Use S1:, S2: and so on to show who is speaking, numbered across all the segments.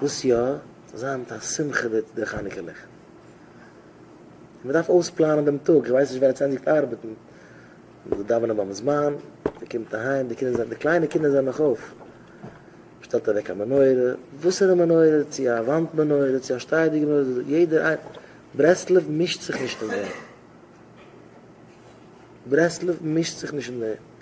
S1: וואס יא? ס'איז היינט א שמחה מיט די חנוכה ליכט. און מען דארף אויספלאנען דעם טאג, איך ווייס נישט ווען עטס ענדיגט ארבעטן, די דאווענען ביים זמן, מען קומט אהיים, די קינדער זענען, די קליינע קינדער זענען נאך אויף, מען שטעלט אוועק א מנורה, וואסערע מנורה, צו א וואנט מנורה, צו א שטייעדיגע מנורה, יעדער איינ, ברסלב מישט זיך נישט אין דעם, ברסלב מישט זיך נישט אין דעם.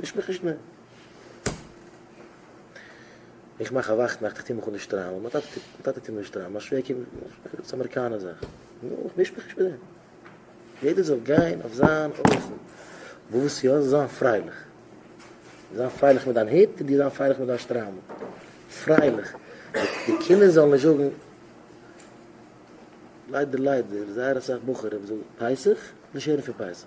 S1: מיש מיך נישט מער. איך מאך א וואכט נאכט, איך טוה מיך אן די שטריימל, מיין טאטע טוט, מיין טאטע טוט מיר די שטריימל, מיין שווער קומט מיך נישט מער, דאס איז א אמעריקאנער זאך. נו, איך מיש מיך נישט מיט דעם. יעדער זאל גיין אויף זיין אופן. וואס יא, זיי זיין פרייליך. זיין פרייליך מיט דיין היט, דו זיין פרייליך מיט דיין שטריימל. פרייליך. די קינדער זאלן נישט זאגן, ליידער ליידער, זייער אסאך בחורים זאגן פסח, נישט הערן פון פסח.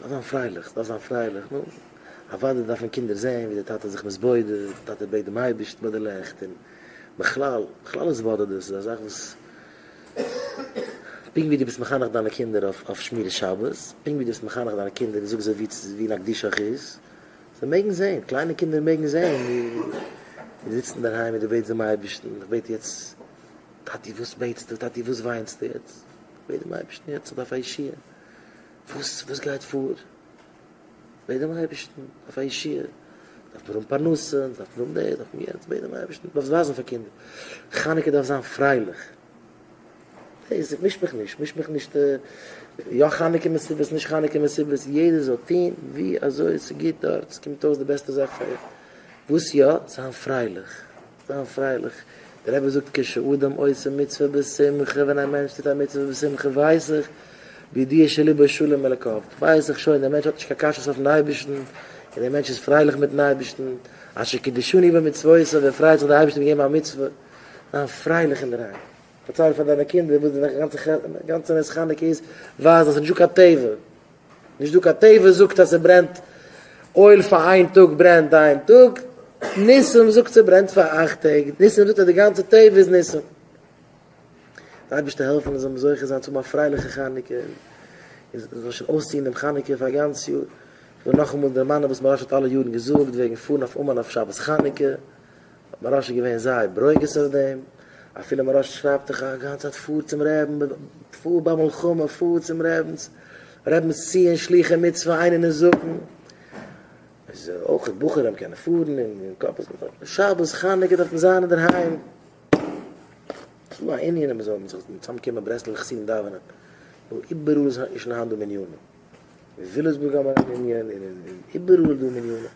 S1: דארף זיין פרייליך, ס'דארף זיין פרייליך, נו, אוודאי דארפן קינדער זען ווי די טאטע איז זיך מתבודד, די טאטע בעט דעם אייבערשטן ביי די לעכט, און בכלל, בכלל איז התבודדות איז א זאך וואס, פונקט ווי דו ביסט מחנך דיינע קינדער אויף שמירת שבת, פונקט ווי דו ביסט מחנך דיינע קינדער און זאגסט זיי ווי צו ווי נקדישך איז, זיי מעגן זען, קליינע קינדער מעגן זען ווי דו זיצט אינדערהיים און דו בעטסט דעם אייבערשטן, איך בעט יעצט, טאטי וואס בעטסטו, טאטי וואס וויינסטו יעצט? בעט דעם אייבערשטן יעצט אויף א ישועה, וואס וואס גייט פאר? בעט דעם אייבערשטן אויף א ישועה, דארף מען האבן פרנסה, דארף מען האבן דאס, דארף מען יענץ, בעט דעם אייבערשטן, דארפסט ווייזן פאר קינדער, חנוכה דארף זיין פרייליך, דאס מיש מיך נישט, מיש מיך נישט, יא חנוכה מסיבות, נישט חנוכה מסיבות, יעדער זאל טון ווי אזוי ס'איז גוט דארט, ס'קומט אויס די בעסטע זאך פאר אים, וואס יא? זיין פרייליך. זיין פרייליך. דער רבי זאגט כשאדם עושה מצוה בשמחה, ווען א מענטש טוט א מצוה בשמחה ווייס איך בידיעה שליבו שלם אלקיו, ווייס איך שוין דער מענטש האט נישט קיין קשיות אויפן אייבערשטן, און דער מענטש איז פרייליך מיטן אייבערשטן, אשר קידשני במצוותיו, ער פרייט זיך דער אייבערשטער האט געגעבן א מצוה, זיין פרייליך אינדערהיים, פארצייל פאר דיינע קינדער וואס די גאנצע נס חנוכה איז, ווייז אז ס'איז נישטא קיין טבע. נישט דא קיין טבע זאגט אז ס'ברענט אויל פאר איין טאג ברענט איין טאג, ניסים זאגט ס'ברענט פאר אכט טעג, ניסים זאגט אז די גאנצע טבע איז ניסים. די אייבערשטער העלף אונז זאלן מיר זוכה זיין צו האבן א פרייליכע חנוכה און זאל שוין אויסציען דעם חנוכה פאר א גאנץ יאר. איך וויל נאכאמאל דערמאנען וואס מוהרא ש האט אלע יארן געזאגט וועגן פארן אויף אומאן אויף שבת חנוכה. האט מוהרא ש געווען זייער ברוגז אויף דעם, אפילו מוהרא ש שרייבט דאך א גאנצע צייט פאר צום רעבין, פאר ביי מלחמה פאר צום רעבינס, רעבינס ציון שלוחי מצוה איין און נזקין, איז אויך בחורים קענען פארן און קאפ איז געפאלן, שבת חנוכה דארף מען זיין אינדערהיים, ס'דא א ענין אז מ'זאל זיך צאמקומען ברסלב'ע חסידים דאווענען, נו איבעראל איז שוין היינט דא מניינים. אין וויליסבורג האט מען א מנין, און איבעראל איז דא מנינים.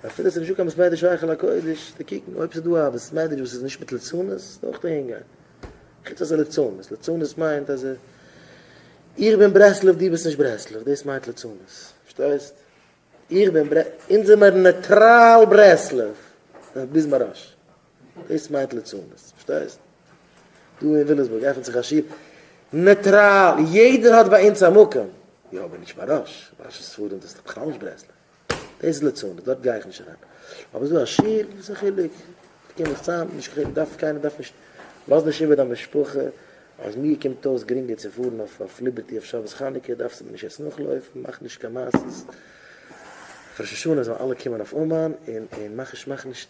S1: אפילו ס'נישט דא קיין בית מדרש היכל הקודש, צו קוקן אויב ס'איז דא א בית מדרש וואס איז נישט מיט ליצנות, איז אויך אהין גיין. חוץ אז ליצנות, ליצנות מיינט אז איך בין ברסלב דו ביסט נישט ברסלב, דאס מיינט ליצנות. פארשטייסט? איך בין ברסלב, אונז זעמער נייטראל ברסלב, ביז מרש. דאס מיינט ליצנות, פארשטייסט? דא אין וויליאמסבורג עפנט זיך א שול נייטראל, יעדער האט ביי אונז א מקום, יא אבער נישט מרש, מרש איז ספרדים דאס איז בכלל נישט ברסלב, דאס איז ליצנות, דארט גיי איך נישט אריין, אבער ס'איז דא א שול, וואס איז א חילוק, קום מיך צאם, נישט קיין חילוק, דארף קיינער דארף נישט, לאז נישט איבער דיין משפחה, אז מיר קומט אויס גרינגער צו פארן אויף ליבערטי אויף שבת חנוכה, דארפסטו מיר נישט עס נאכלויפן, מאך נישט קיין מעשות, אויף ראש השנה זאלן אלע קומען אויף אומאן, און מאך נישט מאך נישט.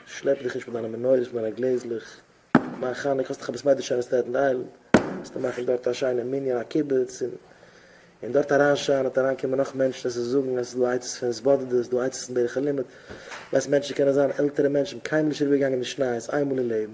S1: שלעפ דיך נישט מיט דיינע מנורות מיט דיינע גלעזלעך, מיין חנוכה האסט דאך עפעס מיידער שיין אין סטעטן איילענד, וועסטו מאכן דארט א שיינע מנין א קיבוץ און און דארט אריין שיין און אריין קומען נאך מענטשן עס איז זאגן עס איז דא עצות פון התבודדות ס'דא עצות אין דרך הלימוד, ווייסט מענטשן קענען זיין עלטערע מענטשן קיינמאל נישט אריבערגעגאנגען די שניי איז איינמאל אין לעבן.